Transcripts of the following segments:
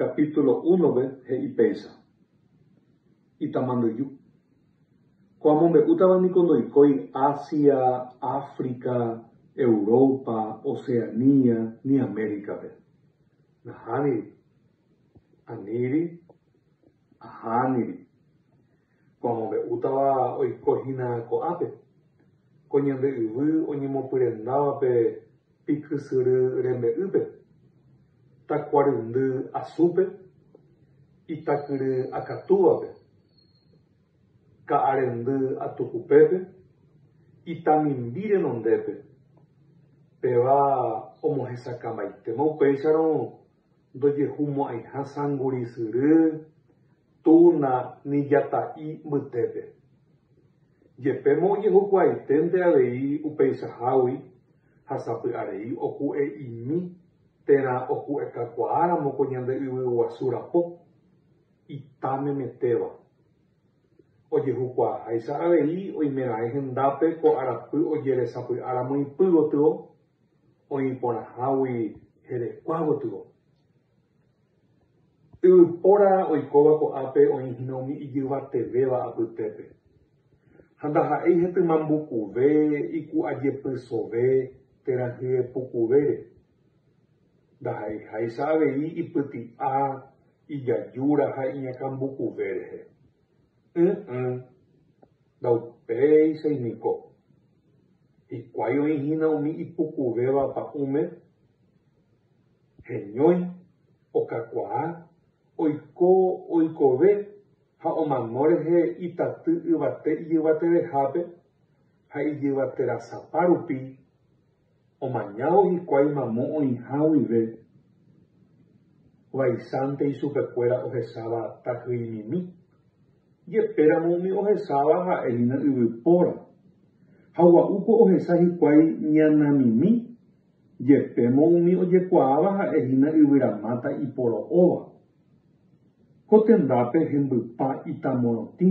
Capítulo uno-pe he'i péicha, Itamanduju. Ko amombe'útava niko ndoikói Asia, África, Europa, Oceania ni América-pe. Nahániri. Aníri. Ahániri. Ko amombe'útava oiko hína ko'ápe, ko ñande yvy oñemopyrendávape pikysyry rembe'ýpe, takuaryndy asúpe, itakyry akatúvape, ka'arendy atukupépe, itamimbi renondépe, péva omohesakãmbaitéma upéicharõ Ndojehumo'ãiha sangurisyry, túna ni jata'i mbytépe. Jepémo ojehukuaaitente avei upeichahágui ha sapy'arei oku'e'imi térã oku'ekakuaáramo ko ñande yvyguasu rapo, ita memetéva. Ojehukuaaháicha avei oimeraẽ hendápe ko arapy ojeresapy'áramo ipy gotyo. oĩporãhágui herekua gotyo. Yvypóra oikóva ko'ápe oĩ hína umi ijyvatevéva apytépe. Ha ndaha'éi hetymambukuve, iku'ajepysove térã hyepukuvére. Ndaha'eiháicha avei ipyti'a, ijajúra ha iñakãmbukuve rehe. Ỹ'ỹ, ndaupéichai niko. Hikuái oĩ hína umi ipukuvéva pa'ũme, heñói, okakuaa, oiko oikove ha omano rehe itaty yvate ijyvatevehápe ha ijyvaterasapa rupi. Omañávo hikuái mamo oĩha guive, vaichántei chupekuéra ohecháva tahyi'imimi, jepéramo umi ohecháva ha'e hína yvypóra, ha gua'úko ohecha hikuái ñanamimi, jepémo umi ojekuaáva ha'e hína yvyramáta iporo'óva. Ko tendápe hembypa itamorotĩ.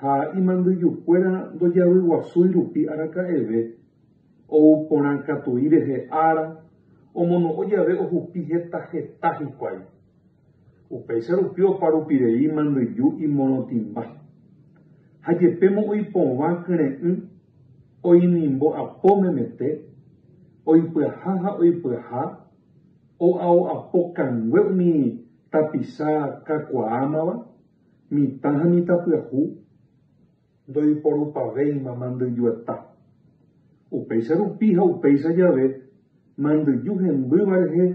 Ha imandyjukuéra ndojavyguasúi rupi araka'eve, ou porã katui rehe ára, omono'õ jave ohupi heta heta hikuái. Upéicha rupi oparupirei imandyju imorotĩmba. Ha jepémo oipovã kyre'ỹ, oinimbo apo memete, oipyaha ha oipyaha, o'ao'apo kangue umi tapicha kakuaámava, Mitã ha mitãpyahu ndoiporupavéima mandyju eta. Upéicha rupi ha upéicha jave, mandyju hembýva rehe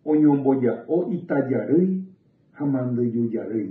oñomboja'o ita jarýi ha mandyju jarýi.